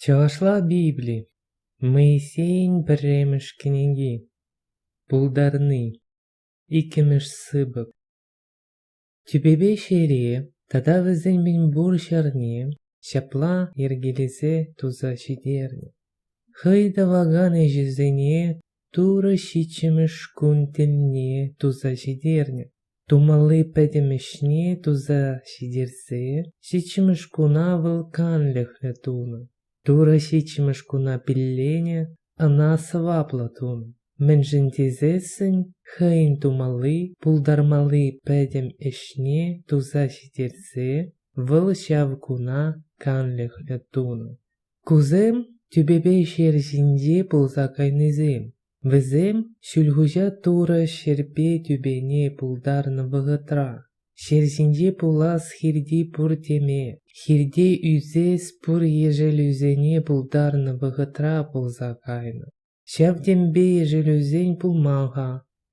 Чӑвашла Библи Моисейӗн пӗрремӗш кӗнеки Пултарни иккӗмӗш сыпӑк Тӳпепе ҫере тата вӗсен мӗнпур ҫӗрне ҫапла йӗркелесе туса ҫитернӗ. Хӑй тӑвакан ӗҫӗсене Турӑ ҫиччӗмӗш кун тӗлне туса ҫитернӗ. Тумалли пӗтӗм ӗҫне туса ҫитерсе ҫиччӗмӗш куна вӑл канлӗхлӗ тунӑ. Турӑ ҫиччӗмӗш куна пилленӗ, ӑна сӑваплӑ тунӑ. Мӗншӗн тесессӗн хӑйӗн тумалли, пултармалли пӗтӗм ӗҫне туса ҫитерсе вӑл ҫав куна канлӗхлӗ тунӑ. Кусем тӳпепе ҫер ҫинче пулса кайнисем. Вӗсем Ҫӳлхуҫа Турӑ ҫӗрпе тӳпене пултарнӑ вӑхӑтра ҫер ҫинче пулас хирти пур теме, хирте ӳсес пур ешӗлӳсене пултарнӑ вӑхӑтра пулса кайнӑ. Ҫав темпе ешерӳсен пулман-ха,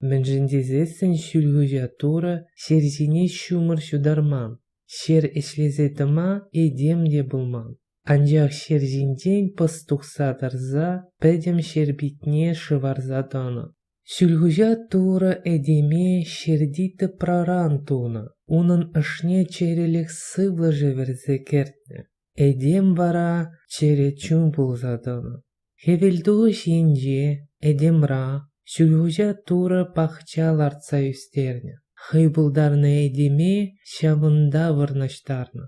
мӗншӗн тесессӗн Ҫӳлхуҫа Турӑ ҫер ҫине ҫумӑр ҫутарман, ҫер ӗҫлесе тӑма этем те пулман. Анчах ҫер ҫинчен пӑс тухса тӑрса пӗтӗм ҫер питне шӑварса тӑнӑ. Ҫӳлхуҫа Турӑ этеме ҫерти тӑпраран тунӑ, унӑн ӑшне чӗрӗлӗх сывлӑшӗ вӗрсе кӗртнӗ. Этем вара чӗрӗ чун пулса тӑнӑ. Хӗвелтухӑҫ енче этемра Ҫӳлхуҫа Турӑ пахча лартса ӳстернӗ. Хӑй пултарнӑ этеме ҫавӑнта вырнаҫтарнӑ.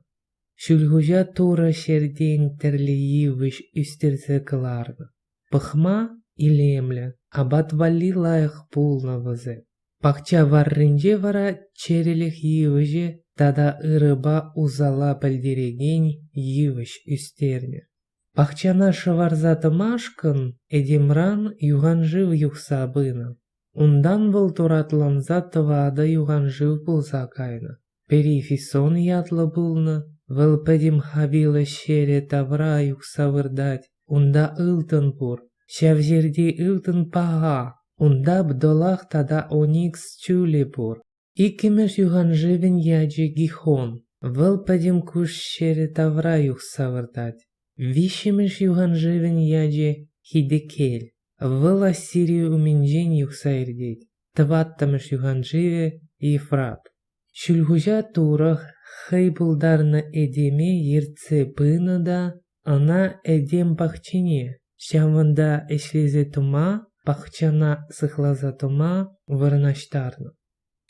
Ҫӳлхуҫа Турӑ ҫӗртен тӗрлӗ йывӑҫ ӳстерсе кӑларнӑ. Пӑхма илемлӗ, апат валли лайӑх пулнӑ вӗсем. Пахча варринче вара чӗрӗлӗх йывӑҫӗ тата ырӑпа усала пӗлтерекен йывӑҫ ӳстернӗ. Пахчана шӑварса тӑмашкӑн этемран юханшыв юхса пынӑ. Унтан вӑл туратланса тӑватӑ юханшыв пулса кайнӑ. Перифисон ятлӑ пулнӑ, вӑл пӗтӗм хавила ҫӗрӗ тавра юхса выртать. Унта ылтӑн пур, ҫав ҫӗрти ылтӑн паха. Унта бдолах тата оникс чулӗ пур. Иккӗмӗш юханшывӗн ячӗ Гихон. Вӑл пӗтӗм куҫ ҫӗрӗ тавра юхса выртать. Виҫҫӗмӗш юханшывӗн ячӗ Хидекель. Вӑл Ассири умӗнчен юхса иртет, тӑваттӑмӗш юханшывӗ Ефрат. Ҫӳлхуҫа Турӑх хӑй пултарнӑ этеме ертсе пынӑ та ӑна этем пахчине, ҫавӑнта ӗҫлесе тума, пахчана сыхласа тума вырнаҫтарнӑ.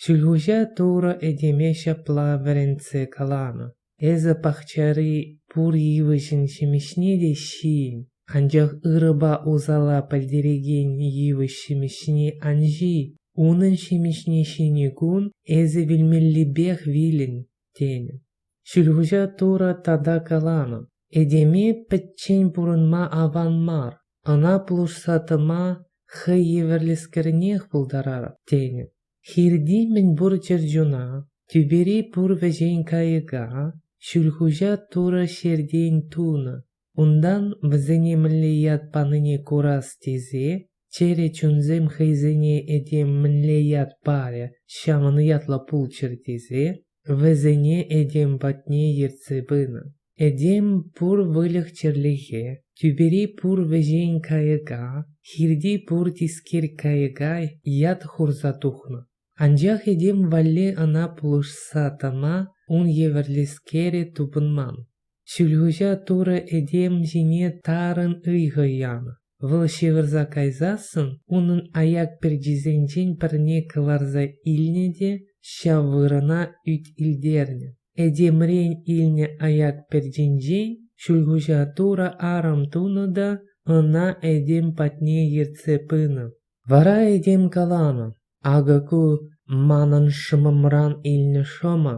Ҫӳлхуҫа Турӑ этеме ҫапла вӗрентсе каланӑ: Эсӗ пахчари пур йывӑҫӑн ҫимӗҫне те ҫийӗн, анчах ырӑпа усала пӗлтерекен йывӑҫ ҫимӗҫне ан ҫий. Унӑн ҫимӗҫне ҫинӗ кун эсӗ вилмеллипех вилӗн, тенӗ. Ҫӳлхуҫа Турӑ тата каланӑ: «Этеме пӗччен пурӑнма аван мар, ӑна пулӑшса тӑма хӑй евӗрлӗскерӗнех пултарар», тенӗ. Хирти мӗнпур чӗрчуна, тӳпери пур вӗҫен кайӑка Ҫӳлхуҫа Турӑ ҫертен тунӑ. Унтан вӗсене мӗнле ят панине курас тесе чӗрӗ чунсем хӑйсене этем мӗнле ят парӗ, ҫавӑн ятлӑ пулччӑр тесе, Вӗсене этем патне ертсе пынӑ. Этем пур выльӑх-чӗрлӗхе, тӳпери пур вӗҫен кайӑка, хирти пур тискер кайӑка ят хурса тухнӑ. Анчах этем валли ӑна пулӑшса тӑма ун евӗрлӗскерӗ тупӑнман. Ҫӳлхуҫа Турӑ этем ҫине тарӑн ыйхӑ янӑ. Вӑл ҫывӑрса кайсассӑн унӑн аяк перчисенчен пӗрне кӑларса илнӗ те ҫав вырӑна ӳт илтернӗ. Этемрен илнӗ аяк перчинчен Ҫӳлхуҫа Турӑ арӑм тунӑ та ӑна этем патне ертсе пынӑ. Вара этем каланӑ: Акӑ ку манӑн шӑмӑмран илнӗ шӑмӑ,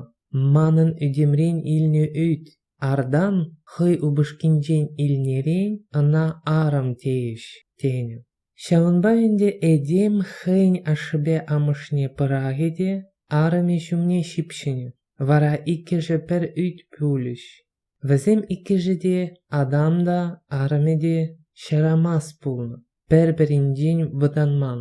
манӑн ӳтӗмрен илнӗ ӳт, артан хӑй упӑшкинчен илнӗрен ӑна арӑм тейӗҫ, тенӗ. Ҫавӑнпа ӗнтӗ этем хӑйӗн ашшӗпе амӑшне пӑрахӗ те арӑмӗ ҫумне ҫыпҫӑнӗ, вара иккӗшӗ пӗр ӳт пулӗҫ. Вӗсем иккӗшӗ те адам та, арӑмӗ те ҫарамас пулнӑ, пӗр-пӗринчен вӑтанман.